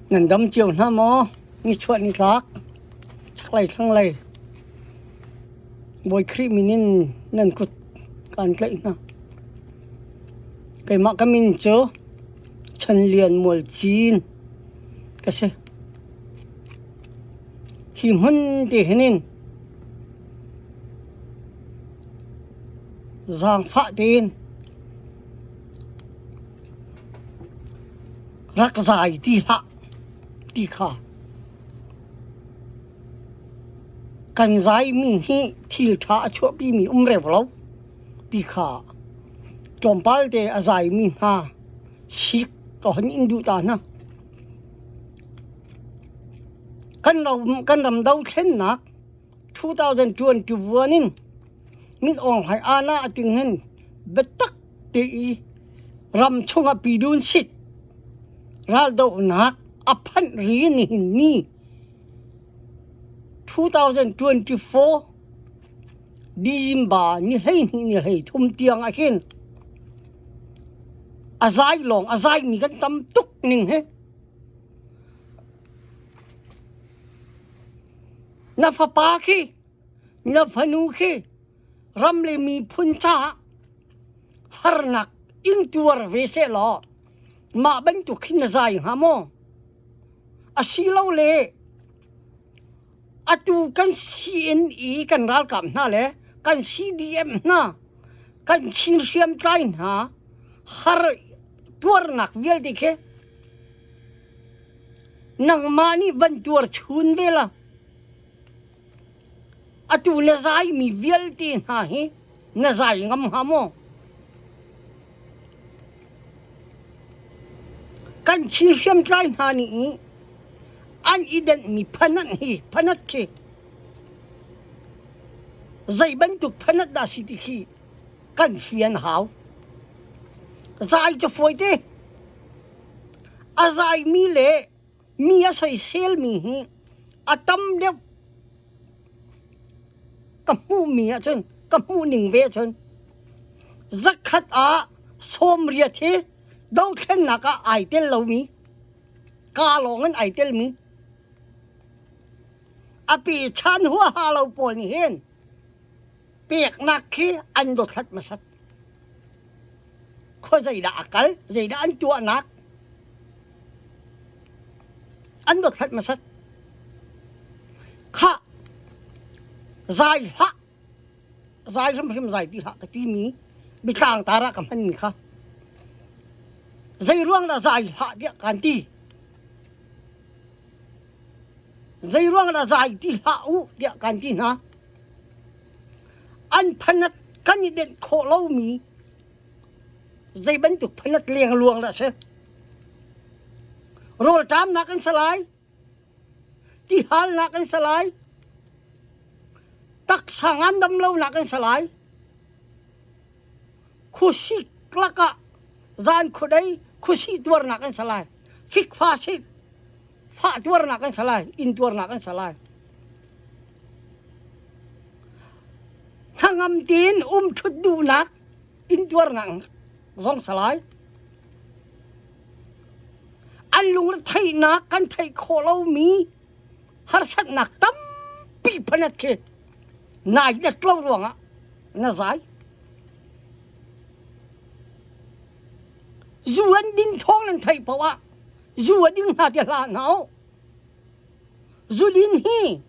Nan dam cio hna maw? Nichuah nitlak chaklei thlanglei Bawi Khrih min in nan kut kaan tlaih hna. Keimah ka min cu Chan Lian Mual Cin ka si. Hi hmun ti hin in Zaangfah tein rak zai ti hlah ti kha kan zaimi hi thilṭha a chuahpimi um reu lo ti kha tlawmpal te a zaimi hna sik ka hun in duh ta hna. Kan ram dothlennak 2021 in min ong hai ana ating hen betak te i ram chung a pi dun sit ral do nak aphan ri ni ni 2024 December ni hlei ni ni hlei thum tiang a khin azai long azai mi kan tam tuk ning he na fapa khi na fanu khi ram le miphun caah harnak in tuar ve se law mah bantuk khi na zai hnga maw asilo le atu kan CNE kan ralkap hna le kan CDM hna kan chin hriam tlai hna har tuarnak vialte khi Nangmah nih van tuarchun ve la. Atu na zaimi vialte hna hi na zai ngam hnga maw? Kan thil hriamtlai hna nih i an i denhmi phanat hi phanat khi zei bantuk phanat dah si ti khi kan fian hau. Zai cu fawi te. A zaimi le mi a soiselmi hi a tam deuh ka hmuhmi ahcun ka hmuhning ve ahcun zakhat ah sawmriat hi dothlennak ah ai tel lomi ka lawng in ai telmi a pe chan huaha lo pawl nih hin peknak khi an dothlat hmasat khua zeidah a kal zeidah an tuahnak an dothlat hmasat kha zai hlah zai hrim hrim zai ti hlah ka timi bitlang tara ka hman mi kha zei ruang dah zai hlah dia kan ti zei ruang dah zai ti hlah u dia kan ti hna An phanat kan i denh khawh lomi zei bantuk phanat lengluang dah a si? Rawlṭamnak an si lai, tihalnak an si lai, taksa ngandam lonak an si lai. Khuasik lakah zan khudei khuasih tuarnak an si lai. Fikfa sik, fah tuarnak kan salai in tuarnak kan salai thangam tin um thut dunak in tuarnak zong salai an lung theihnak kan theih khawh lomi harsatnak tampi phanat khi nai na tlo ruangah na zai zuan din thong nan theih poah Zua ding hna te hla nga u. Zulin hi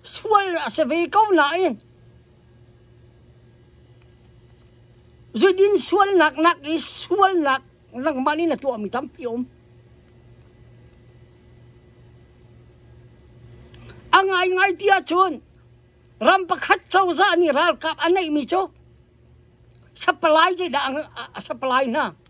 sual a se ve ko na in. Zulin sual nak nak i sual nak langmani na tua mi tampi om. Angai ngai tia chun ram pakhat chawza ni ral kap anai mi chu sapalai je da sapalai na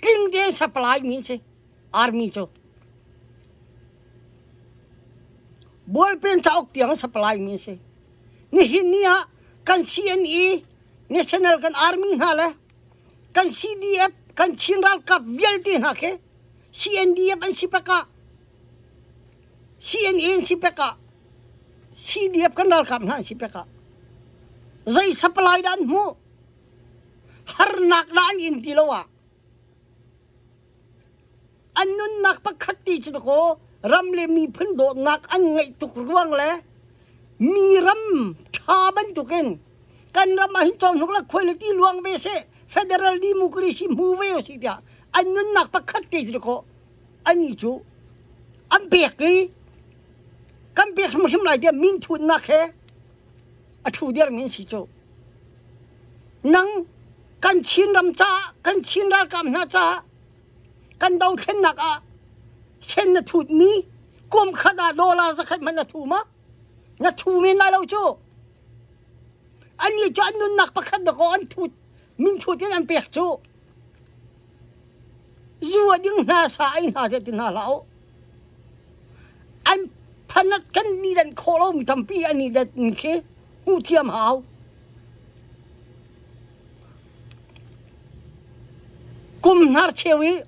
Tlingte supply mi si army cu bualpen cauk tiang supply mi si nihin ni ah kan CNE National kan army hna le kan CDF kan Chin ralkap vialte hna khi CNDF an si pek ah CNA an si pek ah CDF kan ralkap hna an si pek ah zei supply dah an hmuh harnak la an in ti lo ah an nunnak pakhat ti cu kaw ram le miphun dawtnak an ngeih tuk ruang le mi ram tha bantukin kan ram ah hin chon huk la khoi le ti luang ve se federal democracy mu ve o si tiah an nunnak pakhat te cu kaw ani cu an pek i kan pek hrim hrim lai tiah min thunnak he a ṭhu dermi an si cu. Nang kan Chin ram caah kan Chin ralkap hna caah kan dothlennak ah sen na thutmi kum khat ah dollar zakhat hmanh na thu ma na thu men lai lo cu annih cu an nunnak pakhat na ko an thut min thut in an pek cu zuwa ding hna sa ai hna te ti hna hlah u An phanak kan ni dan khawh lo mi tampi an i dat mi khi hmuh thiam hau. Kum hnar cheu i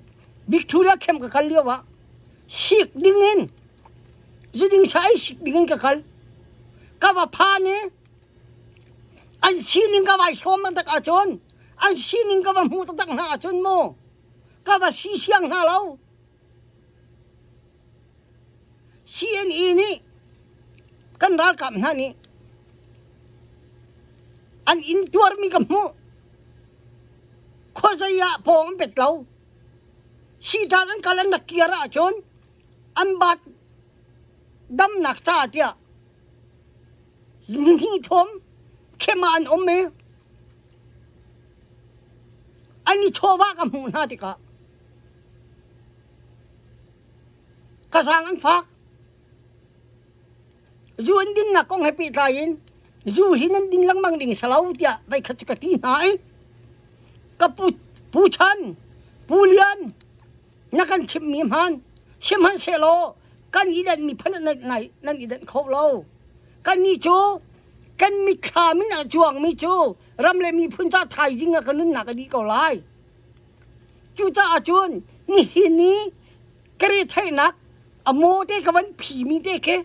Victoria camp ka kal lio ah sik ding in ziding sa ei sik ding in ka kal. Ka va phan i an sining ka vai hlawm taktak ahcun an sining ka va hmuh taktak hna ahcun maw ka va si siang hna lo. CNE nih kan ralkap hna nih an in tuarmi ka hmuh. Khuazei ah pawng an pet lo. Siṭan an kal an rak kir ahcun an bat damnak caah tiah nihnih thawm khem ah an um i an i chawva ka hmuh hna tikah Kasang an fak. Zu an ding nak kong he pehtlai in zu hi nan ding lengmang ding salo tiah vai khat cu ka ti hna i ka pu pu chan pu lian na kan chim mi hman sim hman se law kan idan mi phan nan nai nan idan kho lo kan ni cu kan mit thla min a chuang mi cu ram le mi phun ca thaizing a ka nun nak a dih ko lai Cucaah cun nihin i ka retheihnak a maw te ka van phimi te khi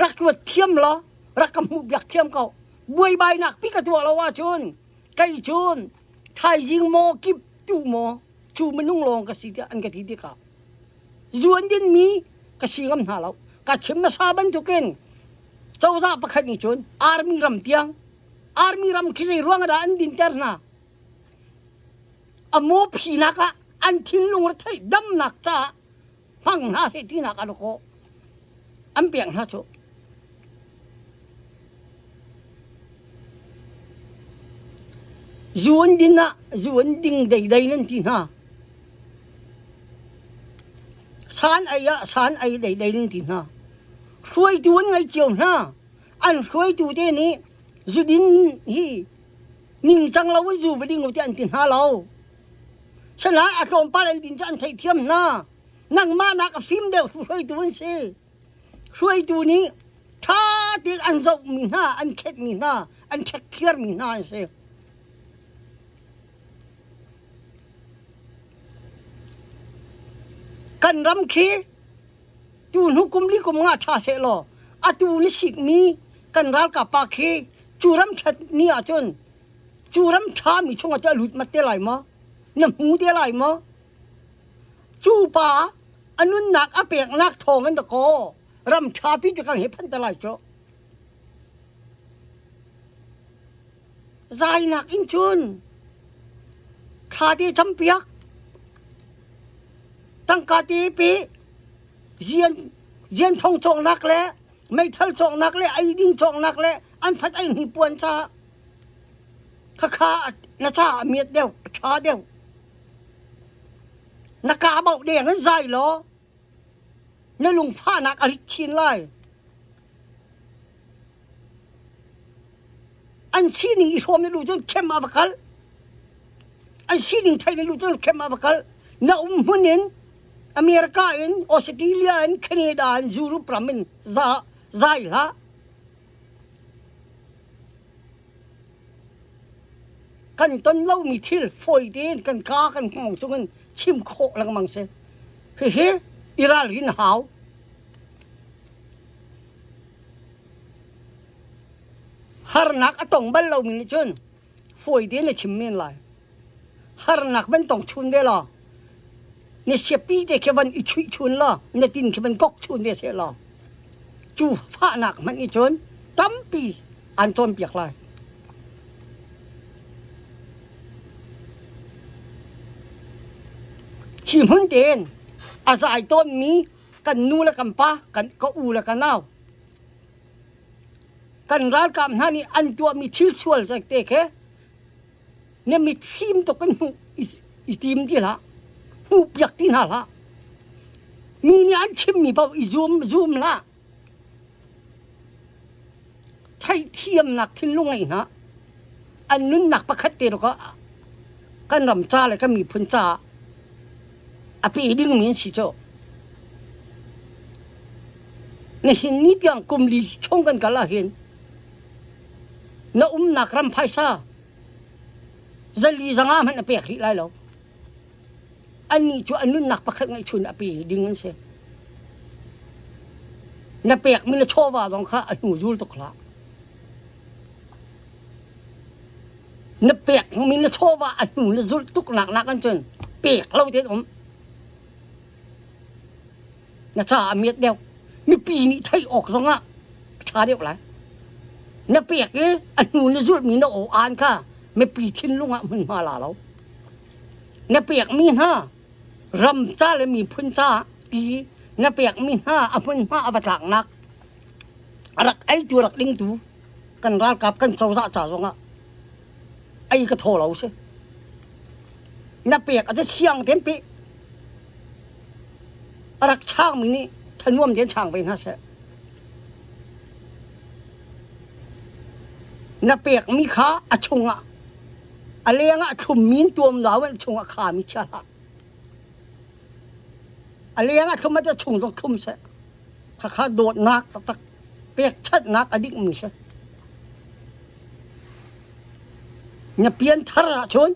rak ruat thiam law rak ka hmuh biak thiam ko buaibainak pi ka tuah lo ahcun kei cun thaizing maw kip tu maw cu minung lawng ka si tiah an ka ti ti ka zuan din mi ka si ngam hna lo ka chim hmasa bantukin cozah pakhat nih cun army ram tiang army ram khi zei ruang dah an dinter hna a maw phinak ah an thinlung rethei damnak caah hmang hna seh tinak a kawh an pek hna cu zuan din ah zuan ding deidei nan ti hna san ai ah san ai deidei nan ti hna hruaitu an ngei cio hna an hruaitu te nih zudin hi ningcang lo in zu va ding u ti an ti hna lo shanai a tlawmpal albin cu an theihthiam hna nangmah nak a fim deuh hruaitu an si hruaitu nih ṭha te an zoh mi hna an khet mi hna an khekkhiar mi hna an si kan ram khi Tuhluk kum li kum nga ṭha seh law atu ni sikmi kan ralkap pa khi cu ram ṭhat ni ahcun cu ram ṭha mi chungah teh lut mat te lai maw na hmu te lai maw cu pa a nunnak a peknak thawng in dakaw ram ṭha pi cu kan he phanh te lai cu Zainak in cun thla ti campiak, tangka ti pi, zian zian thong cawknak le meithal cawknak le eidin cawknak le an fat ei hni puan ca khakha na ca a miat deuh a ṭha deuh. Na kaa bauh deng in zai law Na lungfahnak a rit chin lai. An sining i hrawm na lu cun khem ah va kal. An sining thai na lu cun khem ah va kal. Na umhmun in America in Australia in Canada in Europe ram in za zai hlah. kan ton lomi thil fawite in kan kaa kan hngawng cungin chim khawh lengmang si hihi i ralrin a hau harnak a tong bal lomi nih cun fawi te na chim men lai harnak van tong chun ve law na siapi te khi van i chuih chun law na tin khi van gok chun ve se law cu fahnak hmanh i cun tampi an cawnpiak lai hi hmun tein a zai tawnmi kan nu le kan pa kan ka u le ka nau kan ralkap hna nih an tuahmi thil sual te khe ne mit fim tuk kan hmuh i tim ti hlah hmuh piak ti hna hlah mi nih an chimmi paoh i zum zum hlah theihthiamnak thinlung ngei hna an nunnak pakhat te ro kan ram ca le kan miphun caah a pe dingmi an si cu Nihin ni tiang kum li chung kan kal ahhin na umnak ram phaisa zali zanga hmanh na pek rih lai lo. Annih cu an nunnak pakhat ngeihchun a pi ding an si. Na pek mi na chawva zong kha a hnu zul tuk hlah. Na pek mi na chawva a hnu na zulh tuk nak nak an cun pek lo te um. na caah a miat deuh mipi nih theih awk zongah a ṭha deuh lai na pek i a hnu na zulhmi na aw aan kha mipi thinlung ah hmunhma la lo na pekmi hna ram ca le miphun caah i na pekmi hna a hmunhma a va tlaknak a rak eitu rak dingtu kan ralkap kan cozah ca zongah ei ka tho lo si na pek a ca siang ten pe A rak changmi nih thanuam tein chang ve hna seh. Na pekmi kha a chungah a leng ah thlummi tuam lau in chungah khami chia hlah. A leng ah thlum a chung zong thlum seh. Khakha dawtnak taktak pekchatnak a dikmi seh. Na pian thar ahcun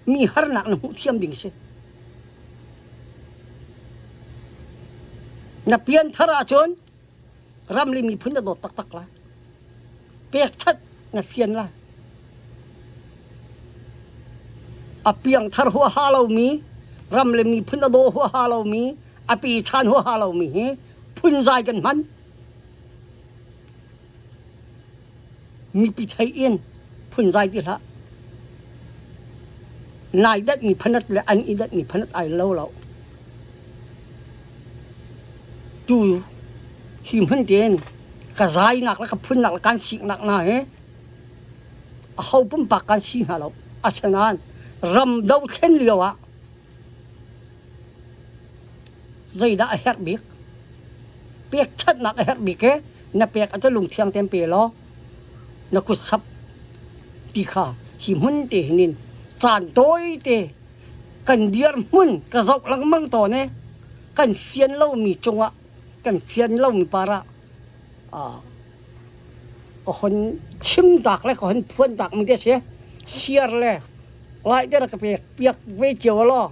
Mi harnak na hmuh thiam ding a si. Na pianthar ahcun ramli miphun na dawt taktak la. Pek that na fian la. A piangthar hua ha lomi, ram le miphun a daw hua ha lomi, a pi chan hua ha lomi hi phun zai kan hman. Mipi thei in phunzai ti hlah. Nai dat mi phanat le an i dat mi phanat ai lo lo. Tu hi hmun tein ka zainak le ka phunnak le kan siknak hna hi a ho pumpak kan si hna lo. Asinain ram dothlen lio ah zeidah a herh bik pek ṭhatnak a herh bik e na pek a lung thiang tem pe law na kut sap ti kha hi hmun te hin in caan tawi te kan dir hmun ka zoh lengmang tawn e kan fian lomi cungah kan fian lomi parah a hon chim tak le ka hon phuan tak mi te si siar le lai der ka pek piak ve cio law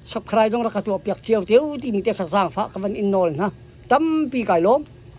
sakrai zong rak ka tuahpiak cio te u timi te kha zaangfah ka van in nawl hna tampi kai lawm